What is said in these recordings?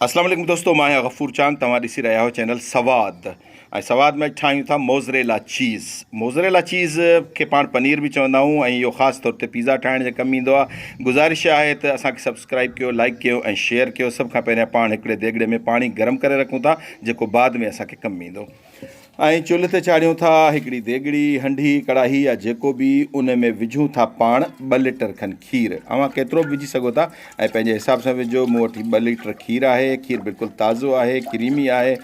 اسلام عليڪم دوستو مان آهيان غفور چاند توهان ڏسي رهيا آهيو چينل سواد ۽ سواد ۾ ٺاهيون ٿا موزريلا چيز موزريلا چيز کي پاڻ پنير به چوندا آهيون ۽ اهو خاص طور تي پيزا ٺاهڻ جي ڪم ايندو آهي گزارش آهي ته اسان کي سبسڪرائب ڪيو لائڪ ڪيو ۽ شيئر ڪيو سڀ کان پهريان پاڻ هڪڙي ديڳڙي ۾ پاڻي گرم ڪري رکون ٿا جيڪو بعد ۾ اسان کي ڪم ايندو ۽ چلهه تي چاڙهيون ٿا. هڪڙي ديڳڙي، هنڊي، ڪڙاهي يا جيڪو به ان ۾ وجهون ٿا پاڻ ٻه ليٽر کن کير. اوهان ڪيترو به وجهي سگهو ٿا ۽ پنهنجي حساب سان وجهو. مون وٽ هي ٻه ليٽر کير آهي. کير بلڪل تازو آهي، ڪريمي آهي.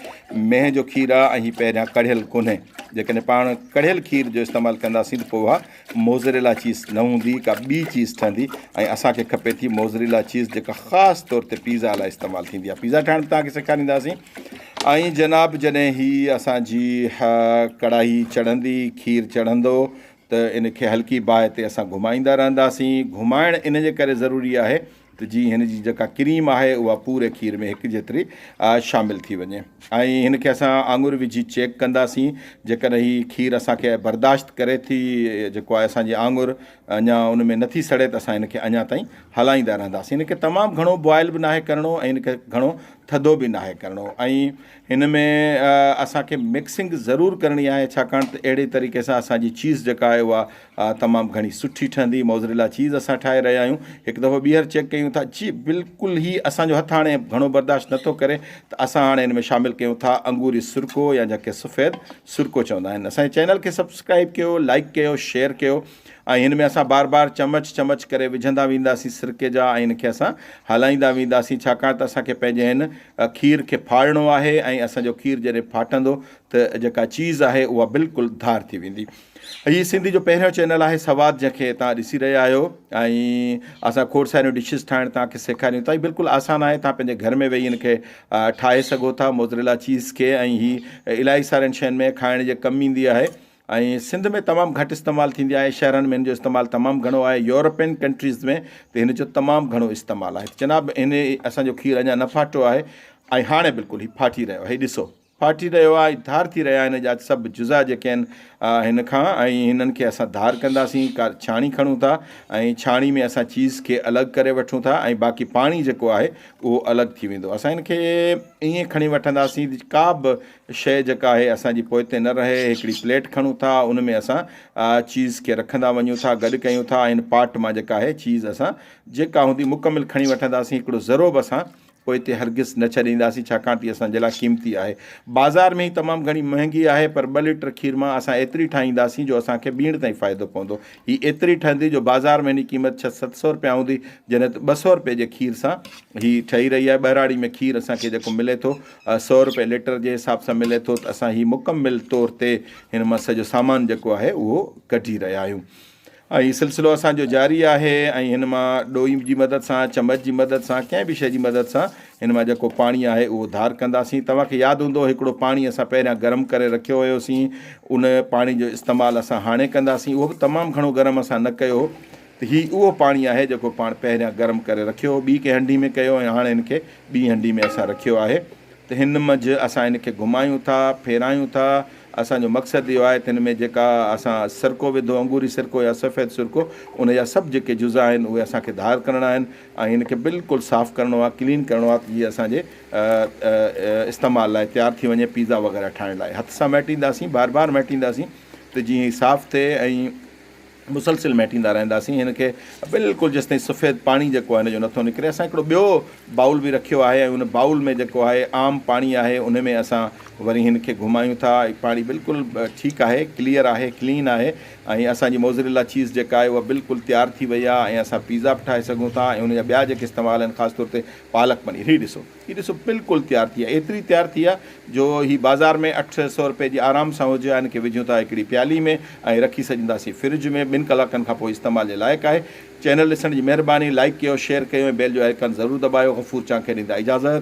مينهن جو کير آهي ۽ هي پهريان ڪڙهيل ڪونهي. جيڪڏهن پاڻ ڪڙهيل کير جو استعمال ڪنداسين ته پوء اها موزريلا چيز نه هوندي ڪا ٻي چيز ٺهندي ۽ اسان کي کپي ٿي موزريلا چيز جيڪا خاص طور تي پيزا لاء استعمال ٿيندي آهي پيزا ٺاهڻ به توهان کي سيکارينداسين ۽ جناب جڏهن هي اسان جي ڪڙاهي چڙهندي کير چڙهندو ته ان کي هلڪي باهه تي اسان گهمائيندا رهنداسين گهمائڻ ان جي ڪري ضروري آهي ته جيئن هن جي جيڪا ڪريم آهي اها پوري کير ۾ هڪ جيتري شامل ٿي وڃي ۽ هن کي اسان آڱر وجهي چيڪ ڪنداسين جيڪڏهن هي کير اسان کي برداشت ڪري ٿي جيڪو آهي اسان جي آڱر اڃا ان ۾ نٿي سڙي ته اسان هن کي اڃا تائين هلائيندا رهنداسين هن کي تمام گهڻو بوائل به ناهي ڪرڻو ۽ هن کي گهڻو ٿڌو به ناهي ڪرڻو ۽ هن ۾ اسان کي مڪسنگ ضرور ڪرڻي آهي ڇاڪاڻ ته اهڙي طريقي سان اسان جي چيز جيڪا آهي اها تمام گهڻي سٺي ٺهندي موزريلا چيز اسان ٺاهي رهيا آهيون هڪ دفعو ٻيهر چيڪ ڪيون ٿا جي بلڪل هي اسان جو هٿ هاڻي گهڻو برداشت نٿو ڪري ته اسان هاڻي هن ۾ شامل ڪيون ٿا انگوري سرڪو يا جنهن کي سفيد سرڪو چوندا آهن اسان جي چينل کي سبسڪرائب ڪيو لائڪ ڪيو شيئر ڪيو ۽ هن ۾ اسان بار بار چمچ چمچ ڪري وجهندا وينداسين سرڪي جا ۽ هن کي اسان هلائيندا وينداسين ڇاڪاڻ ته اسان کي پنهنجي هن کير کي ڦاڙڻو آهي ۽ اسان جو کير جڏهن ڦاٽندو ته جيڪا چيز آهي اها بلڪل ڌار ٿي ويندي. هي سنڌي جو پهريون چينل آهي سواد جنهن کي توهان ڏسي رهيا آهيو ۽ اسان کوڙ ساريون ڊشز ٺاهڻ توهان کي سيکاريون ٿا هي بلڪل آسان آهي توهان پنهنجي گهر ۾ ويهي هن کي ٺاهي سگهو ٿا موزريلا چيز کي ۽ هي الائي سارين شين ۾ کائڻ جي ڪم ايندي آهي ۽ سنڌ ۾ تمام گهٽ استعمال ٿيندي آهي شهرن ۾ هن جو استعمال تمام گهڻو آهي يورپين ڪنٽريز ۾ ته هن جو تمام گهڻو استعمال آهي ته جناب هن اسان جو کير اڃا نه ڦاٽو آهي ۽ هاڻي بلڪل هي ڦاٽي رهيو آهي ڏسو ڦاٽي رهيو آهي ۽ ڌار ٿي رهيا آهن جا سڀ جزا جيڪي آهن هن کان ۽ هنن کي اسان ڌار ڪنداسين ڪا ڇاڻي کڻون ٿا ۽ ڇاڻي ۾ اسان چيز کي الڳ ڪري وٺون ٿا ۽ باقي پاڻي جيڪو آهي اهو الڳ ٿي ويندو اسان هن کي ائين کڻي وٺنداسين ڪا به شيء جيڪا آهي اسان جي پوئتي نه رهي، هڪڙي پليٽ کڻون ٿا، ان ۾ اسان چيز کي رکندا وڃون ٿا، گڏ ڪيون ٿا ۽ ان پاٽ مان جيڪا آهي چيز اسان جيڪا هوندي مڪمل کڻي وٺنداسين، هڪڙو ذرو به اسان پوئتي هرگز نه ڇڏينداسين، ڇاڪاڻ ته اهي اسان جي لاء قيمتي آهي. بازار ۾ هي تمام گهڻي مهنگي آهي، پر ٻه ليٽر کير مان اسان ايتري ٺاهينداسين جو اسان کي ٻيڻ تائين فائدو پوندو. هي ايتري ٺهندي جو بازار ۾ هن جي قيمت ڇهه ست سئو رپيا هوندي، جڏهن ته ٻه سئو رپئي جي کير سان هي ٺهي رهي آهي. ٻهراڙي ۾ کير اسان کي جيڪو ملي ٿو، سؤ رپئي ليٽر جي حساب سان ملي ٿو ته اسان هي مڪمل طور تي هن مان سڄو سامان جيڪو آهي اهو ڪڍي رهيا آهيون ۽ هي سلسلو اسان جو جاري آهي ۽ هن مان ڏوئي جي مدد سان چمچ جي مدد سان ڪنهن به شيء جي مدد سان هن مان جيڪو پاڻي آهي اهو ڌار ڪنداسين توهان کي ياد هوندو هڪڙو پاڻي اسان پهريان گرم ڪري رکيو هيوسين ان پاڻي جو استعمال اسان هاڻي ڪنداسين اهو به تمام گهڻو گرم اسان نه ڪيو هو ته هي اهو پاڻي آهي جيڪو پاڻ پهريان گرم ڪري رکيو هو ٻي ڪنهن هنڊي ۾ ڪيو ۽ هاڻي هن کي ٻي هنڊي ۾ اسان رکيو آهي ته هن منجهه اسان هن کي گهمايون ٿا ڦيرايون ٿا اسان جو مقصد اهو آهي ته هن ۾ جيڪا اسان سرڪو وڌو انگوري سرڪو يا سفيد سرڪو ان جا سڀ جيڪي جزا آهن اهي اسان کي ڌار ڪرڻا آهن ۽ هن کي بلڪل صاف ڪرڻو آهي ڪلين ڪرڻو آهي ته جيئن اسان جي استعمال لاء تيار ٿي وڃي پيزا وغيره ٺاهڻ لاء هٿ سان مهٽينداسين بار بار مهٽينداسين ته جيئن هي صاف ٿئي ۽ مسلسل مهٽيندا رهنداسين هن کي بلڪل جيستائين سفيد پاڻي جيڪو آهي هن جو نٿو نڪري اسان هڪڙو ٻيو بائول به رکيو آهي ۽ ان بائول ۾ جيڪو آهي عام پاڻي آهي ان ۾ اسان وري هن کي گهمايون ٿا هي پاڻي بلڪل ٺيڪ آهي ڪليئر آهي ڪلين آهي ۽ اسان جي موزريلا چيز جيڪا آهي اها بلڪل تيار ٿي وئي آهي ۽ اسان پيزا به ٺاهي سگهون ٿا ۽ ان جا ٻيا جيڪي استعمال آهن خاص طور تي پالڪ پنير هي ڏسو هي ڏسو بلڪل تيار ٿي آهي ايتري تيار ٿي آهي جو هي بازار ۾ اٺ سئو روپئي جي آرام سان هجي ها ان کي وجهون ٿا هڪڙي پيالي ۾ ۽ رکي سڄندا سين فرج ۾ ٻن ڪلاڪن کان پوء استعمال جي لائق آهي چينل ڏسڻ جي مهرباني لائيڪ ڪيو شيئر ڪيو ۽ بيل جو آئيڪان ضرور دٻايو غفور چانڪير ڏيندا اجازت.